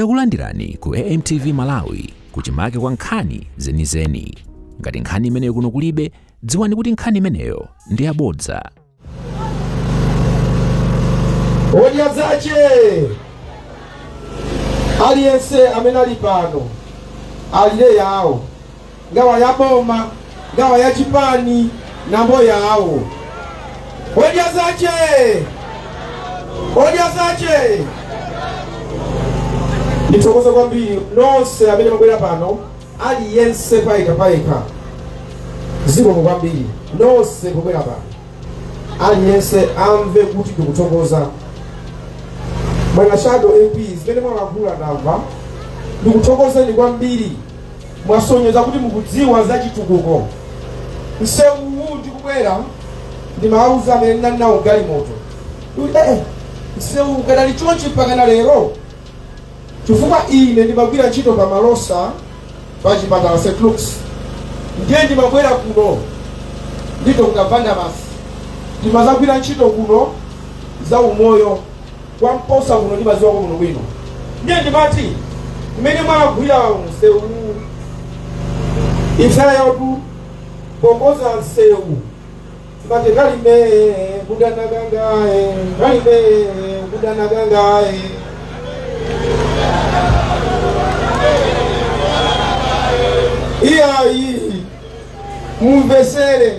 Takulandirani ku AMTV Malawi kuchimake kwa nkhani zenizeni. Ngati nkhani imeneyo kuno kulibe, dziwani kuti nkhani imeneyo ndi yabodza. Odya zache aliyense amene ali pano alire yawo ngawa ya boma ngawa ya chipani nambo yawo odya zache odya zache ndithokoza kwambiri nonse amene mwabwera pano aliyense payekha payekha zikomo kwambiri nonse mwabwera pano aliyense amve kuti ndikuthokoza bwana shadow mp zimene mwalankhula ndamva ndikuthokozeni kwambiri Mwasonyeza kuti mukudziwa za chitukuko. Msewu uwu pobwera ndimawauza amene ndinali nawo galimoto kuti eh, msewu ukadali chonchi mpakana lero chifukwa ine ndimagwira ntchito pa malosa pa chipatala st lukes ndiye ndimabwera kuno ndi dr vandabas ndimazagwira ntchito kuno za umoyo kwa mposa kuno ndimaziwako kuno bwino ndiye ndimati mmene mwagwira msewu imsala yautu pongoza msewu timati kalime kudanakangaye kalime kudanakangaye iyayi mumvesere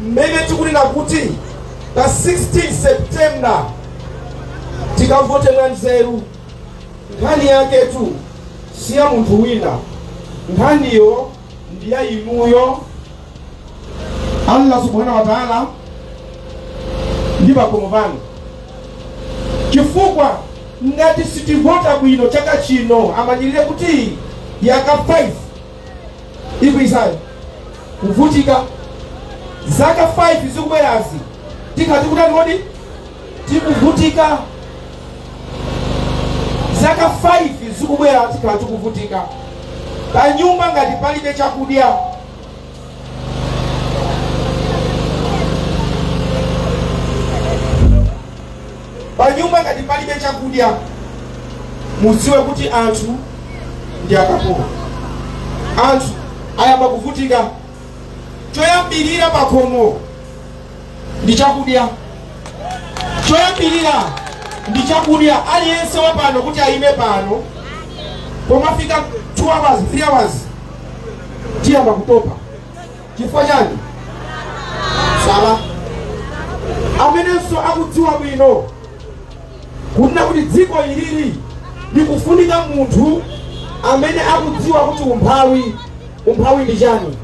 mmene tikunena kuti pa 16 september tikavote mwanzeru nkhani yaketu si ya munthu wina nkhaniyo ndi ya inuyo allah subhanahu wa taala ndi pakhomo panu chifukwa ngati sitivota bwino chaka chino amanyirire kuti yaka 5 ikwisayo kuvutika zaka 5 zikubwerazi tikhala tikutani kodi tikuvutika zaka 5 zikubwera tikhala tikuvutika pa nyumba ngati palibe chakudya Panyumba ngati palibe chakudya, muziwe kuti anthu ndi akapolo. Anthu ayamba kuvutika. Choyambirira pakhomo ndi chakudya, choyambirira ndi chakudya. Aliyense wa pano kuti ayime pano, pomafika 2 hours 3 hours tiyamba kutopa. chifukwa chani sala amenenso akudziwa bwino kunena kuti dziko ili likufunika munthu amene akudziwa kuti umphawi umphawi ndi chani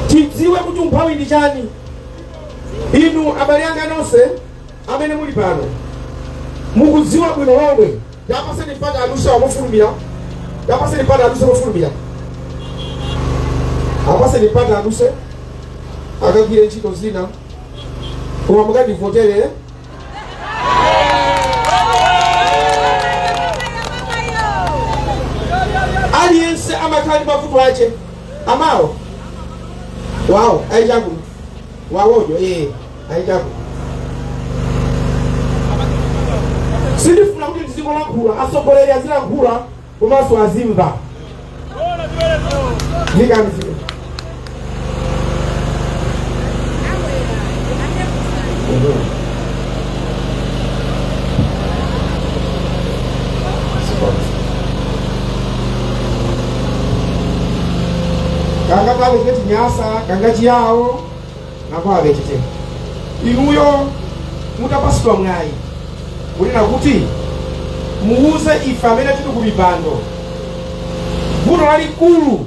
tidziwe kuti umphawi ndi chani inu abale anga nonse amene muli pano mukudziwa bwino lomwe tapatseni mpata aduse mofulumira tapatseni mpata aduse mofulumira apaseni mpata aduse akagwire ntchito zina koma mukandivotere eh? aliyense amakhala ndi mavuto ache amawo wawo aichangu wawojo ee ayichako sindifuna kuti ndizingolankhula atsogoleri azilankhula komanso azimva ndikanzi kangakhale Chinyasa kanga Chiyawo nakawe chetechete inuyo mutapatsidwa mwayi kunena kuti muwuze ife amene tili ku mipando vuto lalikulu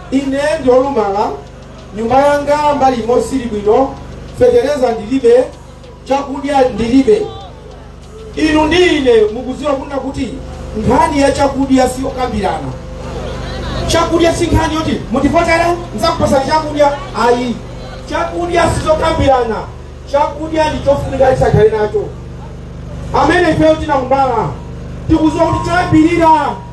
Ine ndi olumala, nyumba yanga mbali imo sili bwino, feteleza ndilibe, chakudya ndilibe. Inu ndi ine mukudziwa kunena kuti nkhani ya chakudya siyokambirana. Chakudya si nkhani yoti mutivotere nzakupatsani chakudya ayi. Chakudya sizokambirana, chakudya ndi chofunika tizakhale nacho. Amene ifeyo tinakumbala tikudziwa kuti choyambirira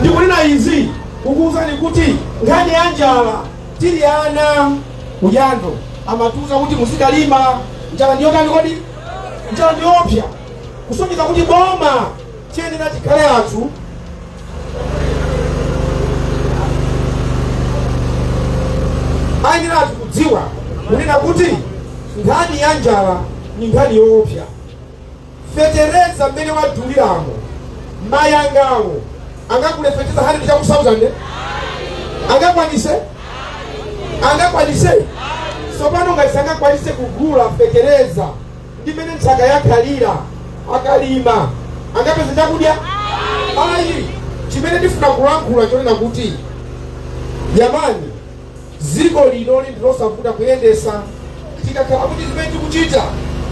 ndikunena izi kukuwuzani kuti nkhani ya njala tili ana ku Jando amatiuza kuti muzikalima njala ndiyotani kodi njala ndiyoopsa kusonyeza kuti boma chiyenera chikhale anthu ayenera anthu kudziwa kunena kuti nkhani ya njala ni nkhani yoopsa fetereza mmene waduliramo mayi angawo angagule feteleza 100 chakuti 1000 angakwanise angakwanise tsopano ngati sangakwanise kugula fetereza ndi mmene nthaka yakhalira akalima angapeza chakudya ayi chimene ndifuna kulankhula chonena kuti yamani dziko linoli ndilosavuta kuyendesa tikakhala kuti zimene tikuchita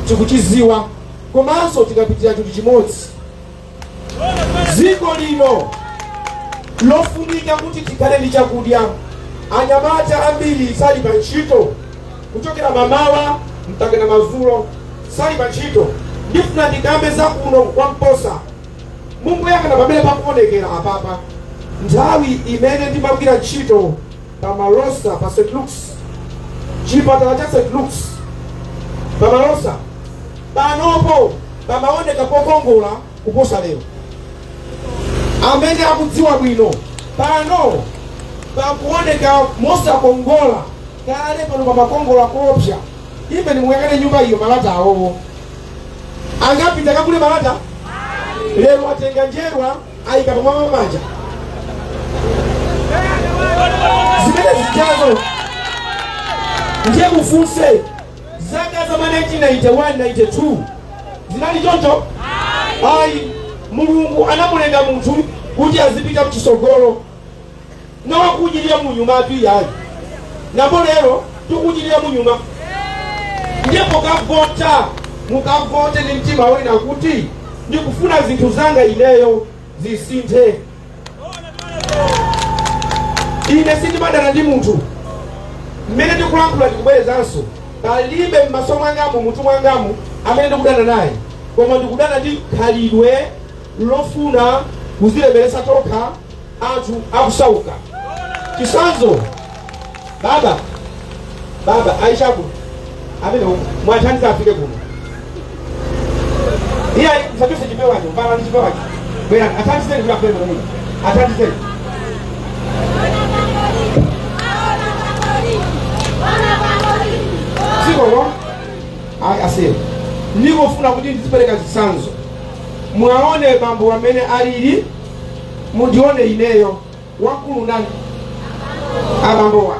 tikuchiziwa komanso tikapitira chinthu chimodzi dziko lino lofunika kuti tikhale ndi chakudya anyamata ambiri sali pa ntchito kuchokera mamawa mpakana mazulo sali pa ntchito ndifuna ndikambe za kuno kwa mposa mungoyang'ana pamene pakuonekera apapa nthawi imene ndimagwira ntchito pa Malosa pa St. Luke's chipatala cha St. Luke's pa Malosa panopo pamaoneka pokongola kuposa lero amene akudziwa bwino pano pakuoneka mosakongola kale pano pamakongola koopsa inde muyang'ane nyumba iyo malata awowo sangapite kakule malata lero atenga njerwa ayika pamwamba maanja zimene zijazo ndiye mufunse zaka za ma 1991 92 zinali choncho ayi mulungu anamulenga munthu kuti azipita mchisogolo nowo kupitira munyuma ati iyayi pano lero tikupitira munyuma ndiye mukavota mukavote ndi mtima onena kuti ndikufuna zinthu zanga ineyo zisinthe ine sindimadana ndi munthu mmene ndikulankhula ndikubwerezanso palibe m'maso mwangamu mutu mwangamu amene ndikudana naye koma ndikudana ndi khalidwe lofuna kuzilemeretsa tokha anthu akusauka chisanzo baba baba aishaku amene mwathandiza afike kuno iye musachose chipewacho mubwere ndi chipewacho bwera athandizeni kuti akwere mwana athandizeni dzikolo ayi asiyeni ndikufuna kuti ndizipereka chisanzo mwaone bambo amene alili mundione ineyo wamkulu ndani abambowa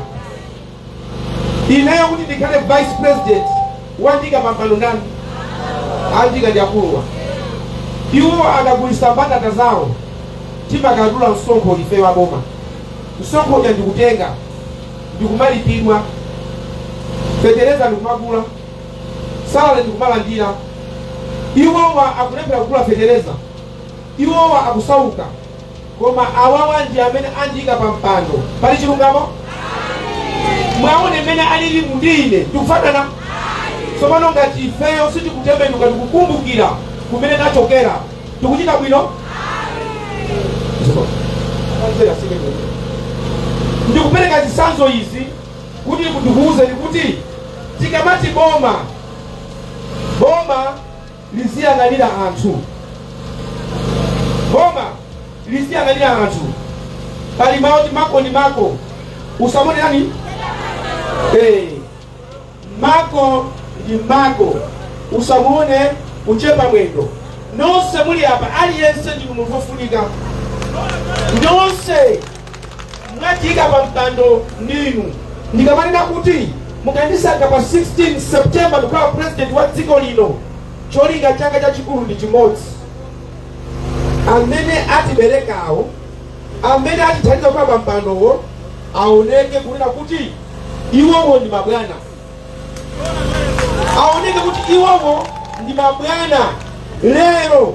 ineyo kuti ndikhale vice president wandika pampando ndani andika ndi akuluwa iwo akagulisa mbatata zawo timakadula msonkho ife waboma msonkho uja ndikutenga ndikumalipidwa fetereza ndikumagula salale ndikumalandira iwowa akulephera kugula fetereza Iwowa akusauka, koma awawa ndi amene andiika pa mpando. Pali chilungamo? Mwaone mmene alili ndi ine, tikufanana? Tsopano ngati ifeyo sitikutembenuka ndikukumbukira kumene tachokera, tikuchita bwino? Ndikupereka zitsanzo izi kuti ndikuwuzeni kuti tikamati boma boma liziyang'anira anthu. Boma liziyang'anira anthu. Pali mawu oti mako ndi mako. Usamone chani? Eh. Mako ndi mako. Usamone kuchepa mwendo. Nonse muli apa aliyense ndi munthu wofunika. Nonse mwatiika pa mpando ndinu ndikamanena kuti mukandisankha pa 16 september ndikhala president wa dziko lino cholinga changa chachikulu ndi chimodzi amene atiberekawo amene atithandiza kukhala pa mpandowo aoneke kunena kuti iwowo ndi mabwana aoneke kuti iwowo ndi mabwana lero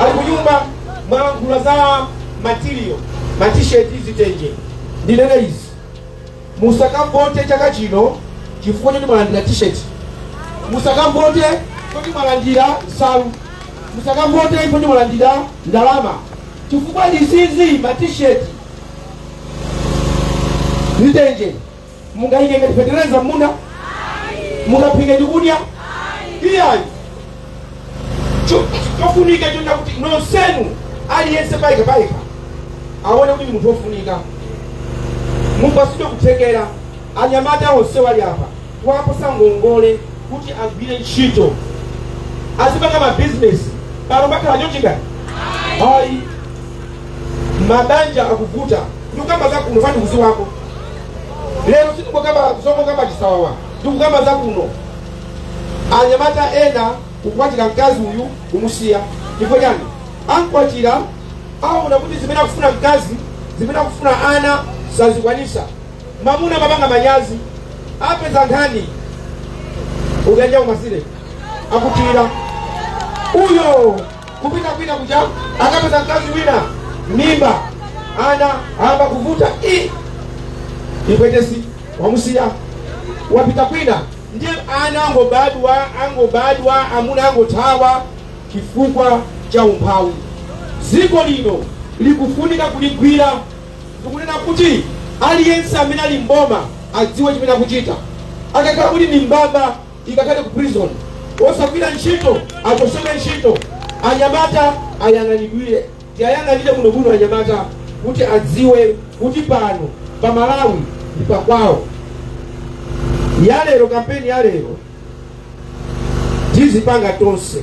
ali kunyumba mwalankhula za material ma t-shirt zitenje ndinene izi musakavote chaka chino chifukwa choti mwalandira t-shirt musakavote choti mwalandira nsalu musakavote choti mwalandira ndalama chifukwa ndisizi ma t-shirt zitenje mungaike ngati fetereza m'munda mungaphike ndikudya iyayi chofunika nchonena kuti nonsenu aliyense payekha payekha aone kuti ndi munthu wofunika mupasidwe kuthekera anyamata onse wali apa kuwapasa ngongole kuti agwire ntchito azipanga mabizinesi pano pakhala chochingani ayi mabanja akuvuta ndikukamba za kuno fani kuziwako lero sitikukamba zongokamba chisawawa ndikukamba za kuno anyamata ena kukwatira mkazi uyu kumusiya chifukwa chani ankwatira aona kuti zimene akufuna mkazi zimene akufuna ana sazikwanisa mamuna amapanga manyazi apeza nkhani unyanja umasire akuthira uyo kupita kwina kuja akapeza mkazi wina mimba ana ayamba kuvuta ipwetesi wamusiya wapita kwina ndiye ana angobadwa angobadwa amuna angothawa chifukwa cha umphawi dziko lino likufunika kuligwira ndikunena kuti aliyense amene ali mboma adziwe chimene akuchita akakhala kuti ni mbava ikakhale ku prison osagwira ntchito achotsedwe ntchito anyamata ayang'anidwire tiyayang'anire konkuno anyamata kuti adziwe kuti pano pa malawi ndi pakwawo yalero kampeni yalero tizipanga tonse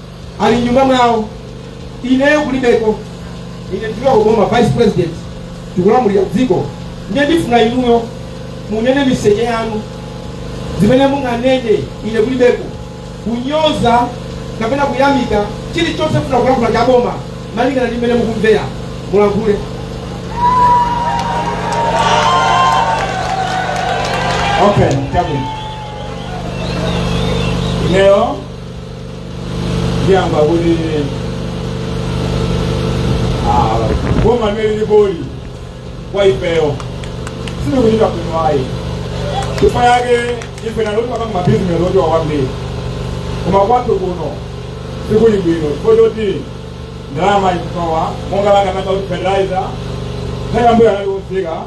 ali mnyumba mwawo ineyo kulibeko ine ndikuya kuboma vice president ndikulamulira dziko ndiye ndifuna inuyo munene miseche yanu zimene munganene ine kulibeko kunyoza kapena kuyamika chilichonse mufuna kulankhula cha boma malingana ndi mmene mukumvera mulankhule Okay, come in. Leo ndiyamba kuti ah, boma limene liripoli kwa ifeyo silikuchita bwino ayi chifukwa yake ife naloti timapanga mabizinesi ochepa kwambiri koma kwathu kuno sikuli bwino chifukwa choti ndalama ikusowa monga langa nanga kuti fertilizer nthawi yambuyo anali kufika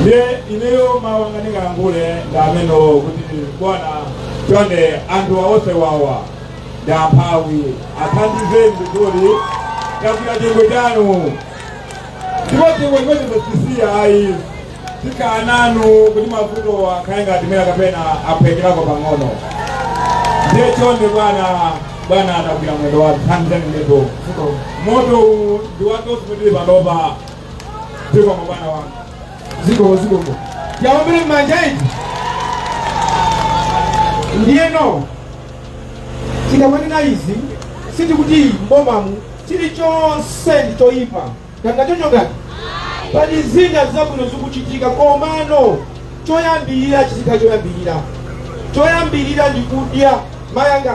ndiye ineyo mawu anga ndingalankhule ndi amenewo kuti bwana chonde anthu onse awa ndi amphawi athandizeni ndizoti tagwira chingwe chanu ndipo chingwe chimenechi sitisiya ayi tikhala nanu kuti mavuto akhale ngati mera kapena achepeko pang'ono ndiye chonde bwana bwana atagwira mwendo wa thandizani ndipo moto uwu ndi wake usimitiri panopa zikomo bwana wanga zikomo zikomo yaombere mmanja iti ndiyeno tikamanena izi sitikuti mbomamu chilichonse ndi choyipa kapena choncho ngati pali zina zabwino zikuchitika komano choyambirira chizikhala choyambirira choyambirira ndikudya mayanga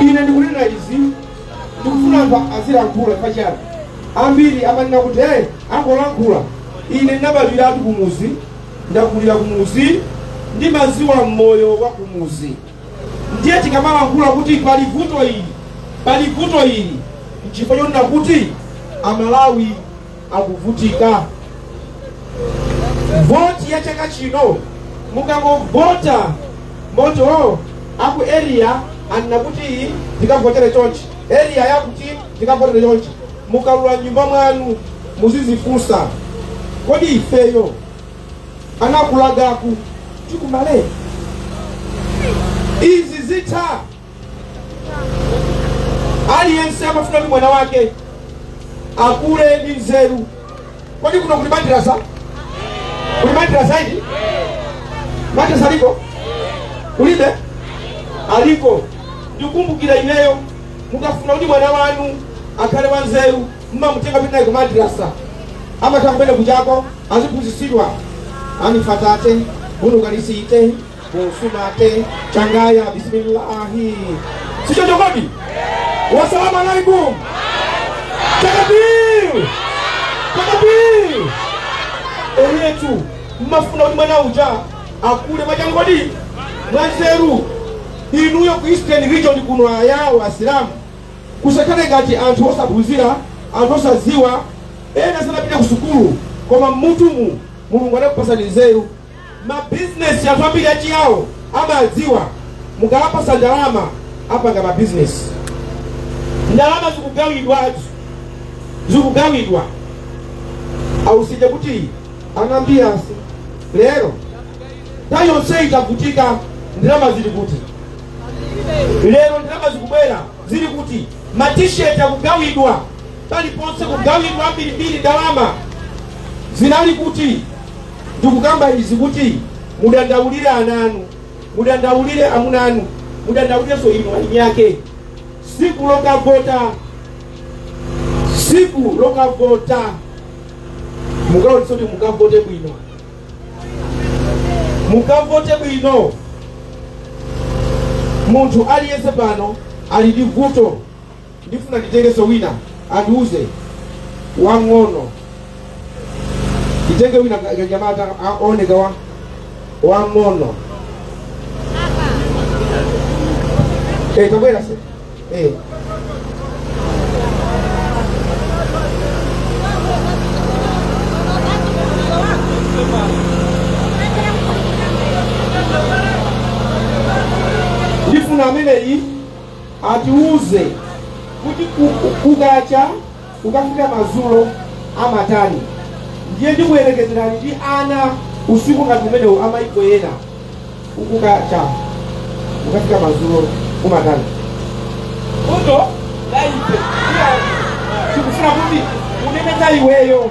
ine ndikunena izi ndikufuna anthu azilankhula pachiyani ambiri amanena kuti eee akungolankhula ine ndinabadwiratu kumuzi ndakulira kumuzi ndimaziwa moyo wa kumuzi ndiye tikamalankhula kuti pali vuto ili pali vuto ili nchifukwa chonena kuti amalawi akuvutika voti ya chaka chino musangovota poti aku area anena kuti tikavotere chonchi area yakuti tikavotere chonchi mukalowa mnyumba mwanu muzizifunsa kodi ifeyo anakulagaku tikumale izi zitha aliyense amafuna kuti mwana wake akule ndi nzeru kodi kuno kuli madrasa kulibe madrasa eti madrasa aliko kulibe aliko ndikumbukira ineyo mukafuna kuti mwana wanu akhale wanzeru mmamutenga kupita naye kumadrasa amatha kumene kuchako aziphunzitsidwa anifatate bunukanisite busumate changaya bisimillahi sichocho kodi wasalamu alaikum takabir takabir eyetu mmafuna kuti mwana uja akule mwachangu ndi mwanzeru inuyo ku eastern region kuno ayawo asilamu Musakhale ngati anthu osaphunzira, anthu osadziwa, ena sanapite kusukulu koma mmutumu Mulungu adakupatsani nzeru. Ma business anthu ambiri achiyawo amadziwa, mukawapatsa ndalama apanga ma business. Ndalama zikugawidwazi, zikugawidwa ausije kuti anambiyasi lero nthawi yonseyi tavutika ndalama zili kuti? lero ndalama zikubwera zili kuti matisheti akugawidwa paliponse kugawidwa mbirimbiri ndalama zinali kuti ndikukamba izi kuti mudandaulire ana anu mudandaulire amuna anu mudandaulirenso inu eni ake siku lokavota siku lokavota mukaonetse kuti mukavote bwino mukavote bwino munthu aliyense pano ali ndi vuto ndifuna nditengenso wina atiuze wang'ono nditenge wina ka- kanyamata kooneka wang'ono Eh, tabwera se Eh. ndifuna ameneyi atiuze kuti ku- ku- kukacha kukafika madzulo amatani ndiye ndikuyerekezerani ndi ana msinkhu ngati umenewu amayiko ena kukacha kukafika madzulo umatani vuto laipe tikufuna kuti unene za iweyo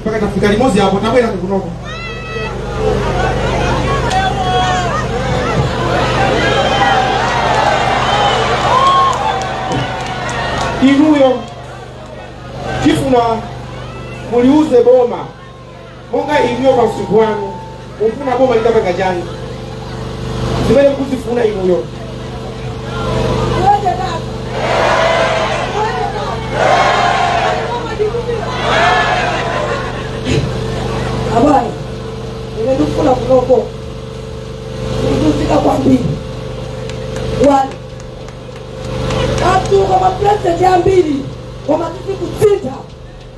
mpaka tafika limodzi apo tabwera kukunoko inuyo tifuna muliuze boma monga inuyo pa msika wanu mufuna boma litapanga chani zimene mukuzifuna inuyo abana ine ndikufuna kunoko ndikuthokoza kwambiri wani athu koma pulezidenti ambiri koma zisakusintha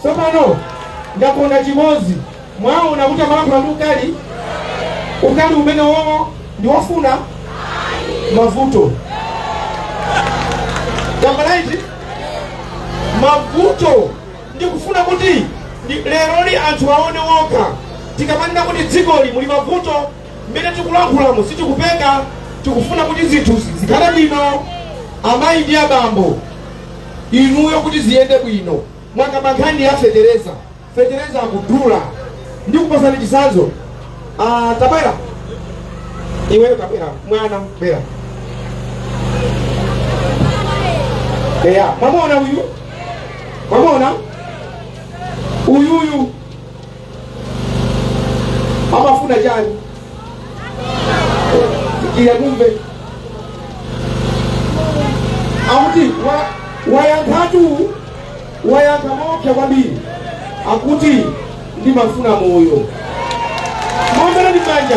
Tsopano ndakonda chimodzi. Mwaona kuti amalankhula ndi ukali, ukali umene wowo ndi wofuna mavuto. Chabwanji ndi mavuto ndikufuna kuti ndi- leroli anthu aone wokha tikamanena kuti dzikoli muli mavuto mmene tikulankhulamo sitikupeka tikufuna kuti zinthu zikhale bwino amayi ndi abambo inuyo kuti ziyende bwino mwakamba nkhani ya fetereza fetereza akudula ndi kupasani chisanzo ah, tabwera iweyo tabwera mwana bwera eya mwamuona uyu mwamuona uyuyu amafuna chani iye kumve akuti wa- wayankhatu wayankha moopsa kwambiri akuti ndimafuna moyo muombereni manja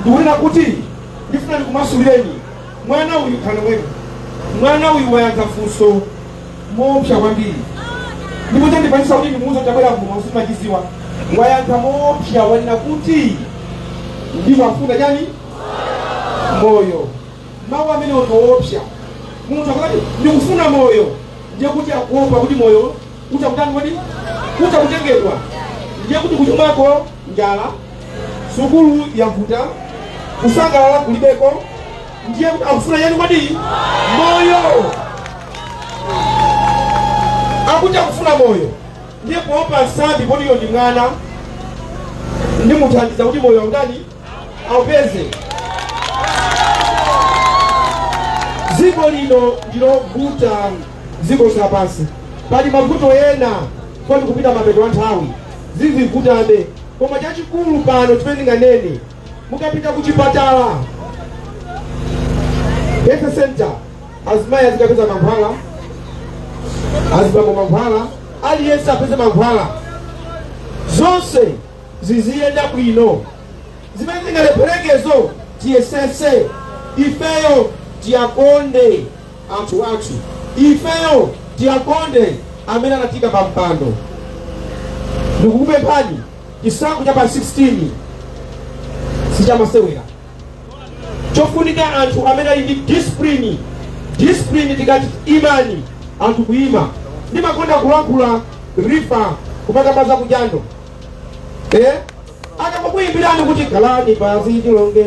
ndikunena kuti ndifuna ndikumasulireni mwana uyu khale mwene mwana uyu wayankha funso moopsa kwambiri ndipo chandipangitsa kuti ndimuuze tabwera kuno simachiziwa wayankha moopsa wanena kuti ndimafuna chani moyo mawu amenewo ngoopsa munthu akati ndikufuna moyo ndiye kuti akuopa kuti moyo utha kutani kodi utha kutengedwa ndiye kuti kuchumako njala sukulu yavuta kusangalala kulibeko ndiye kuti akufuna chani kodi moyo akuti akufuna moyo ndiye kuopa nsambi poti uyo ndi mwana ndimuthandiza kuti moyo autani aupeze dziko lino ndilovuta dziko lonse lapansi. Pali mavuto ena poti tikupita mapeto a nthawi, zizivutabe, koma chachikulu pano chimene ndinganene, mukapita ku chipatala health center, azimayi azikapeza mankhwala, azibambo mankhwala, aliyense apeze mankhwala, zonse ziziyenda bwino. Zimene zingalepherekezo tiyesese ifeyo tiwakonde anthu athu. Ifeyo tiwakonde amene anatiika pa mpando. Ndikukupemphani chisankho cha pa 16 sichamasewera. Chofunika anthu amene ali ndi discipline. Discipline tikati imani anthu kuima. Ndimakonda kulankhula rifa kumakamba za kujando eh? akakukuyimbirani kuti khalani pansi tilonge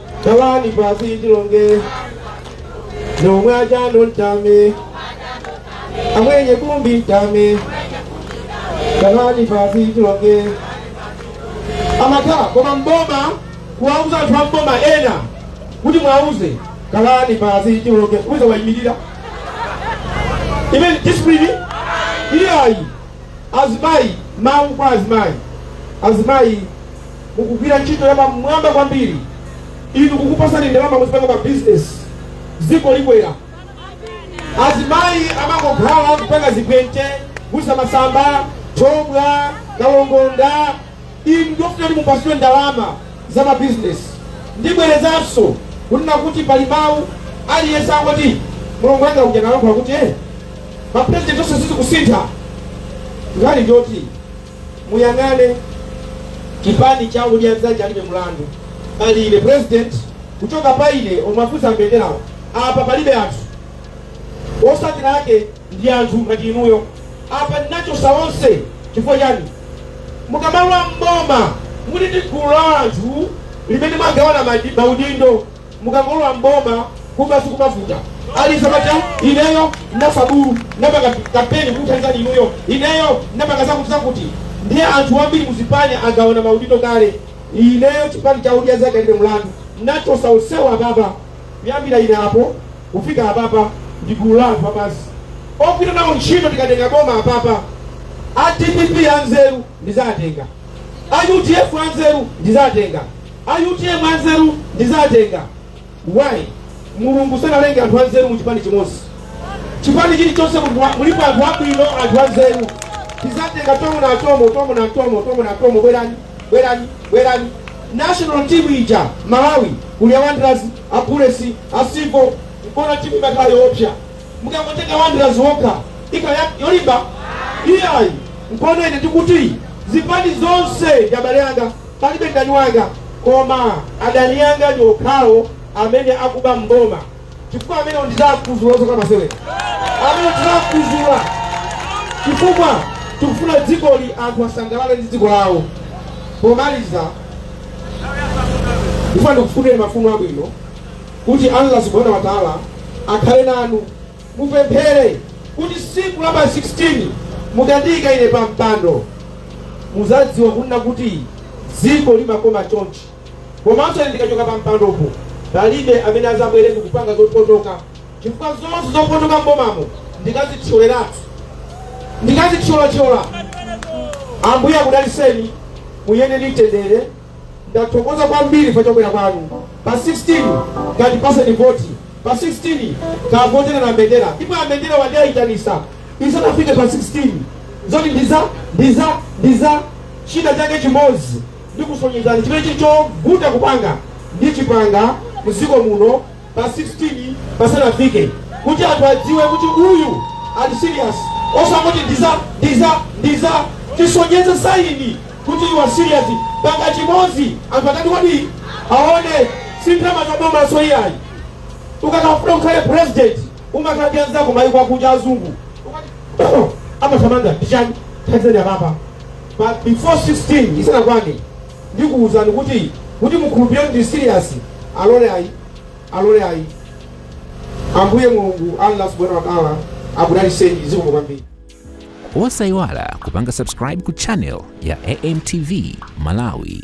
Tawani pasi chilonge nomwe achando ntame amwenye kumbi ntame tawani pasi chilonge amata koma mboma kuwauza anthu a mboma ena kuti mwauze kalani pasi chilonge uza wayimirira imene discipline ili ayi azimayi mawu kwa azimayi azimayi mukugwira ntchito ya pamwamba kwambiri inu kukupasani ndalama muzipanga mabizinesi dziko likwera azimayi amangokhala kupanga zigwente kugusa masamba thobwa kalongonda inu ndofuna kuti mupasiwe ndalama za mabizinesi ndibwerezanso kunena kuti pali mawu aliyense angoti mulungu wanga uja nalankhula kuti eh, mapurezidenti onse sizikusintha nkhani ndiyoti muyang'ane chipani cha odya zake alibe mlandu pali ine president kuchoka pa ine omwe afunsa mbenderawo apa palibe anthu osatira ake ndi anthu ngati inuyo apa ndinachosa onse chifukwa chani mukamalowa m'boma muli ndi gulu la anthu limene mwagawana madi- maudindo mukangolowa m'boma kuba sikumavuta aliyense amati "Ah, ineyo ndinafa bulu ndinapanga kampeni kukuthandizani inuyo ineyo ndinapanga zakuti zakuti ndiye anthu ambiri muzipani agawana maudindo kale ineyo chipani cha odya zake alibe mlandu ndinachosa onsewo apapa kuyambira ine apo kufika apapa ndi gulu la anthu apansi ogwira nawo ntchito tikatenga boma apapa a dpp anzeru ndizatenga a udf anzeru ndizatenga a utm anzeru ndizatenga why mulungu sanalenge anthu anzeru mu chipani chimodzi chipani chilichonse mulipo anthu abwino anthu anzeru tizatenga tomo na tomo tomo na tomo tomo na tomo bwerani bwerani bwerani national team ija malawi kuli a wanderers a bullets a civil muona timu imakhala yoopsa mukangotenga wanderers yokha ikhala yolimba iyayi mkono ine tikuti zipani zonse ndi abale anga palibe mdani wanga koma adani anga ndi okhawo amene akuba m'boma chifukwa amene ndizakuzula zoka masewera amene ndizakuzula chifukwa tikufuna dzikoli anthu asangalale ndi dziko lawo pomaliza ndifuna ndikufunireni mafuno abwino kuti Allah subhanahu wa taala akhale nanu mupemphere kuti siku la pa 16 mukandiyika ine pa mpando muzadziwa kunena kuti dziko limakoma chonchi komanso ine ndikachoka pa mpandopo palibe amene azabwere kupanga zopotoka chifukwa zonse zopotoka mbomamo ndikazithyolelatu ndikazithyolathyola ambuye akudaliseni muyende ndi mtendere ndathokoza kwambiri pa kubwera kwanu pa 16 katipaseni voti pa 16 kavotereni aMbendera ndipo aMbendera wandiyitanisa isanafike pa 16 zoti ndiza ndiza ndiza china chake chimodzi ndikusonyezani chimene chili chovuta kupanga ndichipanga mdziko muno pa 16 pasanafike kuti anthu adziwe kuti uyu ali serious osangoti ndiza ndiza ndiza tisonyeze saini kuti you are serious panga chimodzi anthu atati kuti aone si ndalama za bomanso iyayi ukakafuna ukhale president umakhala ndi anzako mayiko akuja azungu amathamanga ndichani thandizani apapa but before 16 isanakwane ndikuuzani kuti kuti mukhulupirire kuti ndi serious alole ayi alole ayi ambuye mulungu allah subhanahu wa taala akudaliseni zikomo kwambiri osayiwala kupanga subscribe ku channel ya amtv malawi